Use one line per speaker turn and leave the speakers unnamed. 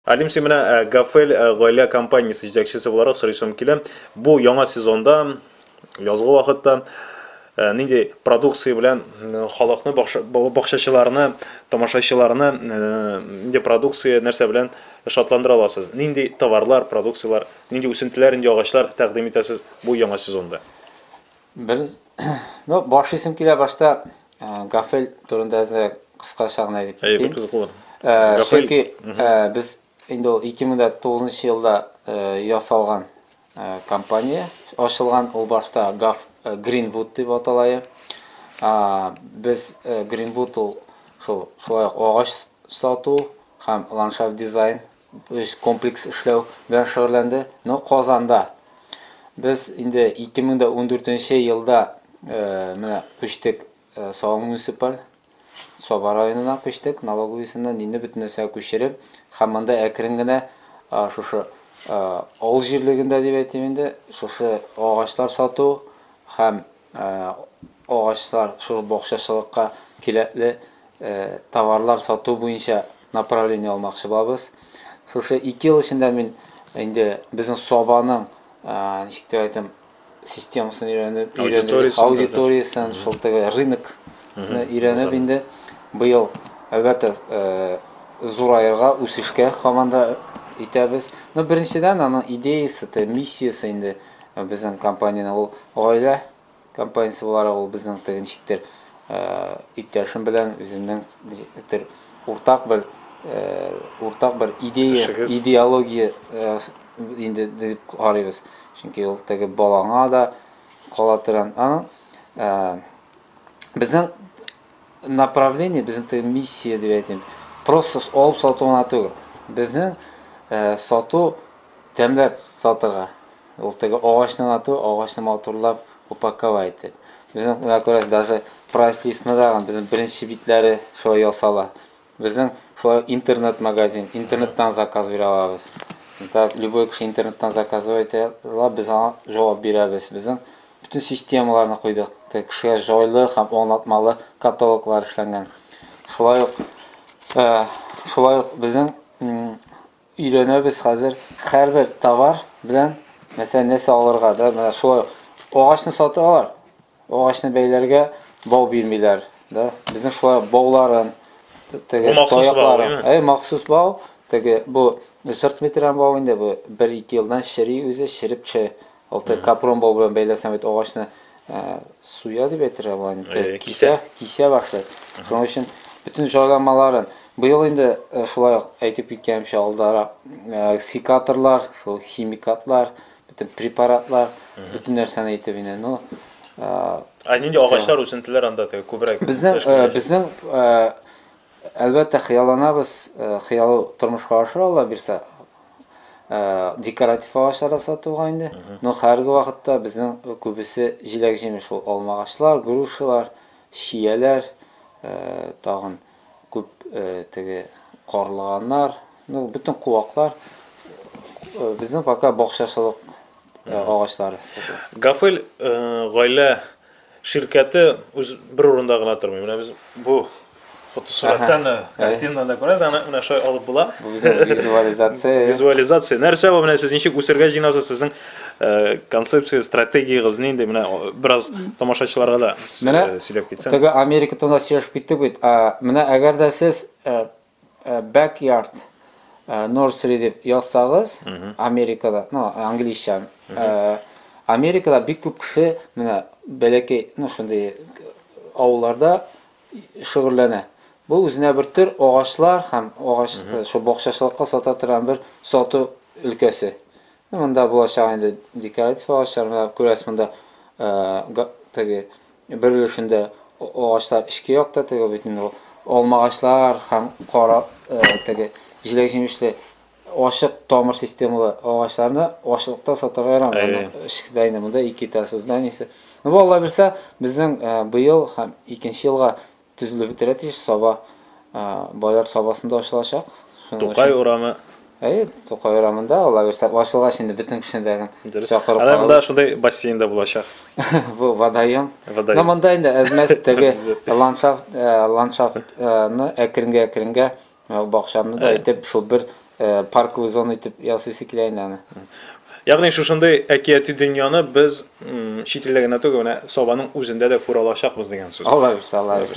Алим, син менә э, Гафел э, гаилә компаниясе җитәкчесе буларак сорыйсым килә. Бу яңа сезонда, язгы вакытта э, нинди продукция белән халыкны, бакчачыларны, тамашачыларны нинди продукция, нәрсә белән шатландыра аласыз? Нинди товарлар, продукцияләр, нинди үсентеләр, нинди агачлар тәкъдим итәсез бу яңа сезонда? Бер ну баш исем килә башта Гафел турында әзрәк кыскача гына әйтеп китим. Әй, кызыклы. Чөнки без инде ул 2009 елда ясалган компания ачылган. Ул башта Гав Гринвуд дип аталая. Без Гринвуд ул шул шулай агач сату һәм ландшафт дизайн өч комплекс эшләү белән шөгыльләнде. Но Казанда без инде 2014 елда менә күчтек Саба муниципаль Саба районына күчтек, налоговыйсыннан инде бөтен нәрсә күчереп, һәм монда әкрен генә шушы авыл җирлегендә дип әйтим инде, шушы агачлар сату һәм Ә агачлар шул бакчачылыкка кирәкле товарлар сату буенча направление алмакчы булабыз. Шушы ике ел эчендә мин инде безнең Сабаның, ничек дип әйтим, системасын өйрәнеп, өйрәнеп, аудиториясен, шул теге рынок өйрәнеп инде быел әлбәттә зураерга, үсешкә команда итәбез. Ну, беренчедән, аның идеясе, миссиясе инде. Безнең компаниянең ул гаилә компаниясе буларак, ул безнең теге ничектер иптәшем белән үземнең ничектер уртак бер уртак бер идея, идеология инде дип карыйбыз. Чөнки ул теге балаңа да кала торган. Аның безнең направление безнең теге миссия дип әйтим просто алып сату гына түгел безнең э, сату тәмләп сатырга ул теге агачны гына түгел агачны матурлап упаковать итеп безнең менә күрәсез даже прайс листны да безнең беренче битләре шулай ясала Безнең шулай интернет магазин, интернеттан заказ бирә алабыз. Так, любой кеше интернеттан заказывать итә ала, без аңа җавап бирәбез. Безнең бөтен системаларны куйдык. Так, кешегә җайлы һәм аңлатмалы каталоглар эшләнгән. Шулай ук, шулай ук безнең Өйрәнәбез хәзер хәрбер товар белән мәсәлән нәрсә алырга да менә шулай агачны саталар агачны бәйләргә бау бирмиләр да безнең шулай бауларын теге таякларын әй махсус бау теге бу жырт метрән бау инде бу бер ике елдан чери үзе череп төшә Ул тек капрон бау белән бәйләсәң бит агачны суя дип әйтергә була инде. Кисә, кисә башлый. Шуның өчен бөтен җайланмаларын быел инде шулай ук әйтеп киткәнемчә алдарак секаторлар, шул химикатлар, бөтен препаратлар, бөтен нәрсәне әйтеп инде. Ну, а нинди агачлар, үсентеләр анда теге күбрәк? Безнең безнең Әлбәттә, хыялланабыз, хыялы тормышка аша, Аллабирса. Декоратив агачлар да сатуга инде. Но хәерге вакытта безнең күбесе җиләк-җимеш ул, алма агачлар, грушалар, чияләр, тагын күп теге карлыганнар, ну, бөтен куаклар. Безнең пока бакчачылык агачлары сатыла. Гафел гаилә Ширкәте үз бер урында гына тормый. Менә без бу фотосураттан да, картинаны да күрәсез, аны менә шулай алып була. Бу безнең визуализация. Визуализация. Нәрсә бу менә сез ничек үсергә җыенасыз, сезнең э, концепция, стратегиягез нинди? Менә о, бераз тамашачыларга да Менә э, сөйләп китсәң. Теге Америка турында сөйләшеп киттек бит. А, Менә әгәр дә сез э, Backyard nursery дип язсагыз, Америкада, ну, английча, Америкада бик күп кеше менә бәләкәй, ну, шундый авылларда шөгыльләнә. Бу үзенә бер төр агачлар һәм агач, шул бакчачылыкка сата торган бер сату өлкәсе. Монда булачак инде декоратив агачлар, менә күрәсез, монда теге Бер өлешендә агачлар эчке якта, теге бит инде ул алмагачлар һәм кара теге җиләк-җимешле ачык тамыр системалы агачларны ашлыкта сатарга ярамый. Аны эчкедә инде монда ике этажлы зданиесе. Ну, Алла бирсә, безнең быел һәм икенче елга төзелеп бетерә тиеш, саба Бояр сабасында ачылачак. Тукай урамы. Әйе, Тукай урамында ала бирсә, ачылгач инде бөтен кешене дә чакырып калабыз. Монда шундый бассейн дә булачак. Бу водоем. Но монда инде әзмәс теге ландшафт, ландшафтны әкренгә-әкренгә Менә бу бакчаны да әйтеп, шул бер парковый зона итеп ясыйсы килә инде аны. Ягъни шушындый әкияти дөньяны без чит илдә генә түгел, менә Сабаның үзендә дә күрә алачакбыз дигән сүз. Алабыз, алабыз.